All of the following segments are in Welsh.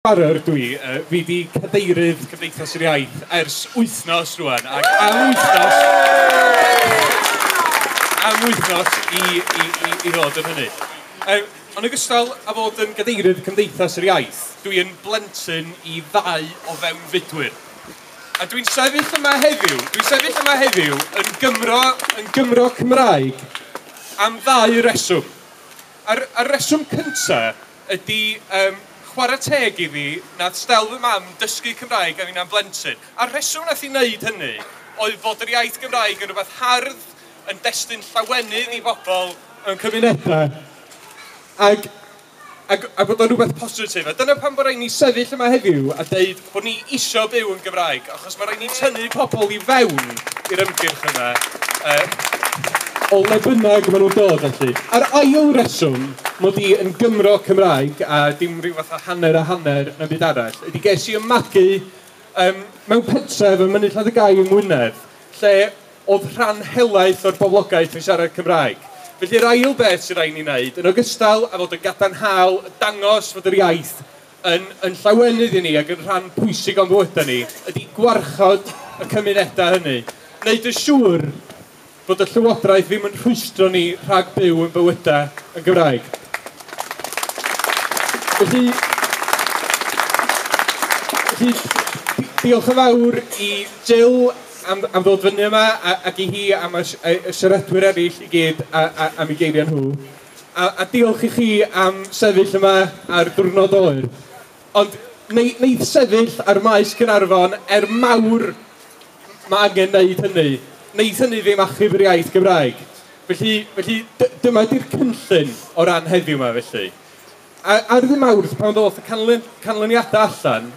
Barrow ydw i. Fi 'di cadeirydd Cymdeithas yr Iaith ers wythnos rwan, ac am wythnos... am wythnos i i i i ddod yn hynny. Yym, yn ogystal â fod yn gadeirydd Cymdeithas yr Iaith, dw i yn blentyn i ddau o fewnfudwyr. A dw i'n sefyll yma heddiw, dwi'n sefyll yma heddiw yn Gymro, yn Gymro Cymraeg am ddau reswm. A'r a'r reswm cynta Ydy, yym, chwarae teg iddi, nath Stel fy mam dysgu Cymraeg a finna'n blentyn. A'r rheswm nath hi wneud hynny oedd fod yr iaith Gymraeg yn rhywbeth hardd, yn destun llawenydd i bobl mewn cymunedau, ac ac a bod o'n rhywbeth positif. A dyna pam bod rhaid ni sefyll yma heddiw a deud, bod ni isio byw yn Gymraeg, achos mae rhaid ni tynnu pobl i fewn i'r ymgyrch yma, uh, o le bynnag maen nhw'n dod felly. A'r ail reswm mod i yn Gymro Cymraeg, a dim rhyw fath o hanner a hanner na byd arall, ydy ges i ymmagu um, mewn pentref ym Mynydd Lladd-y-gai yng Ngwynedd, lle oedd rhan helaeth o'r boblogaeth yn siarad Cymraeg. Felly'r ail beth sy'n rhaid ni wneud, yn ogystal a fod yn gadarnhaol, dangos fod yr iaith yn yn llawenydd i ni ac yn rhan pwysig o'n bywydau ni, ydy gwarchod y cymunedau hynny, wneud yn siŵr bod y Llywodraeth ddim yn rhwystro ni rhag byw ein bywydau yn Gymraeg. Felly, felly diolch yn fawr i Jill am, am ddod fyny yma ac i hi am y, y siaradwyr eraill i gyd a, a, am ei geiriau nhw. A, a diolch i chi am sefyll yma ar ddiwrnod oer. Ond neu, wneith sefyll ar Maes Caernarfon er mawr mae angen wneud hynny, wneith hynny ddim achub yr iaith Gymraeg. Felly, felly dyma di'r cynllun o ran heddiw yma felly. A, ar ddim awrth pan ddoth y canlyn, canlyniadau allan,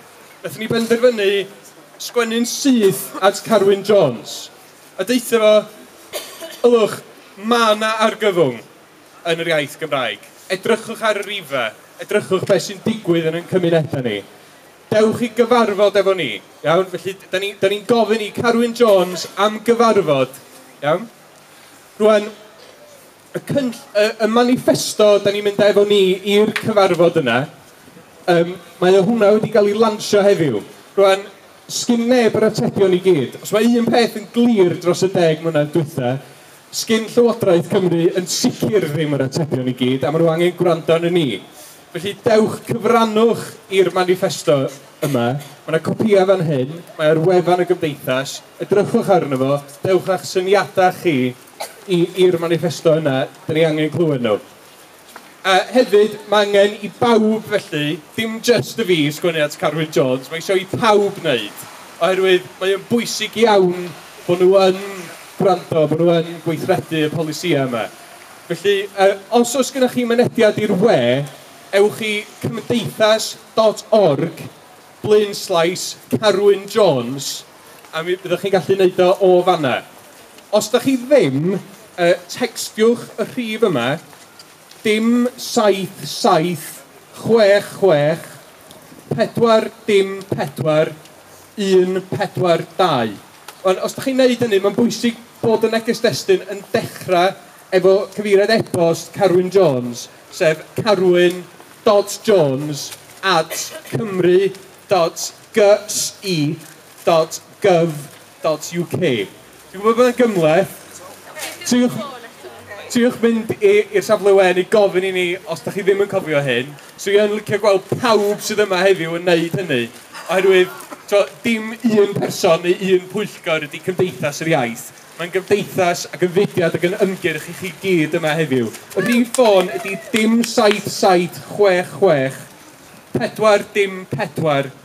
wnaethon ni benderfynu sgwennu'n syth at Carwyn Jones. A deutha fo, ylwch, ma' 'na argyfwng yn yr iaith Gymraeg. Edrychwch ar y rhife, edrychwch be' sy'n digwydd yn ein cymuneda ni. Dewch i gyfarfod efo ni, iawn? Felly, 'dan ni, 'dan ni'n gofyn i Carwyn Jones am gyfarfod, iawn? Rŵan, y cynll- y y maniffesto 'dan ni'n mynd â efo ni i'r cyfarfod yna, yym, mae o hwnna wedi ga'l 'i lansio heddiw. Rŵan, Sgin neb yr atebion i gyd. Os mae un peth yn glir dros y deg mlynedd dwytha, sgin Llywodraeth Cymru yn sicr ddim yr atebion i gyd, a ma' nhw angen gwrando arnon ni. Felly, dewch, cyfrannwch i'r maniffesto yma. Ma' 'na copïau fan hyn, mae ar wefan y Gymdeithas, edrychwch arno fo, dewch â'ch syniadau chi i i'r maniffesto yna, 'dan ni angen clywed nhw. A hefyd, mae angen i bawb felly, dim jyst y fi, sgwennu at Carwyn Jones, mae eisiau i pawb wneud, oherwydd mae o'n bwysig iawn bod nhw yn gwrando, bod nhw yn gweithredu y polisïau yma. Felly, os oes gennych chi mynediad i'r we, ewch i cymdeithas.org blaenslaes Carwyn Jones a mi fyddwch chi'n gallu wneud o o fanna. Os da chi ddim, yy tecstiwch y rhif yma, dim saith saith chwech chwech pedwar dim pedwar un pedwar dau. Wan, os da chi'n neud hynny, ma'n bwysig bod y neges destun yn dechra efo cyfeiriad e-bost Carwyn Jones, sef carwyn dot jones at cymru dot gy i. dot gov dot uk. Dwi'n gwybod bod e'n gymhleth. Triwch, triwch mynd i'r safle we neu gofyn i ni os da chi ddim yn cofio hyn. So i yn licio gweld pawb sydd yma heddiw yn wneud hynny. Oherwydd, to, dim un person neu un pwyllgor ydy Cymdeithas yr Iaith. Mae'n gymdeithas ac yn fudiad ac yn ymgyrch i chi gyd yma heddiw. Y rhif ffôn ydy dim 7766 4 dim 4.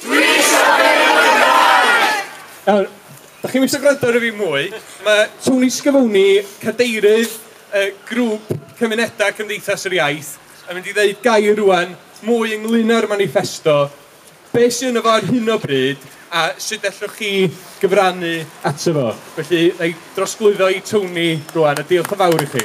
Dwi eisiau byw yn y Gymraeg! Nawr, da chi'n eisiau gwrando ar y fi mwy? Mae Tony Scavone, cadeirydd y grŵp cymunedau Cymdeithas yr Iaith, yn mynd i ddeud gair rwan mwy ynglyn â'r maniffesto, be sydd yno fo ar hyn o bryd a sut ellwch chi gyfrannu ato fo. Felly, na i drosglwyddo i Tony rwan a diolch yn fawr i chi.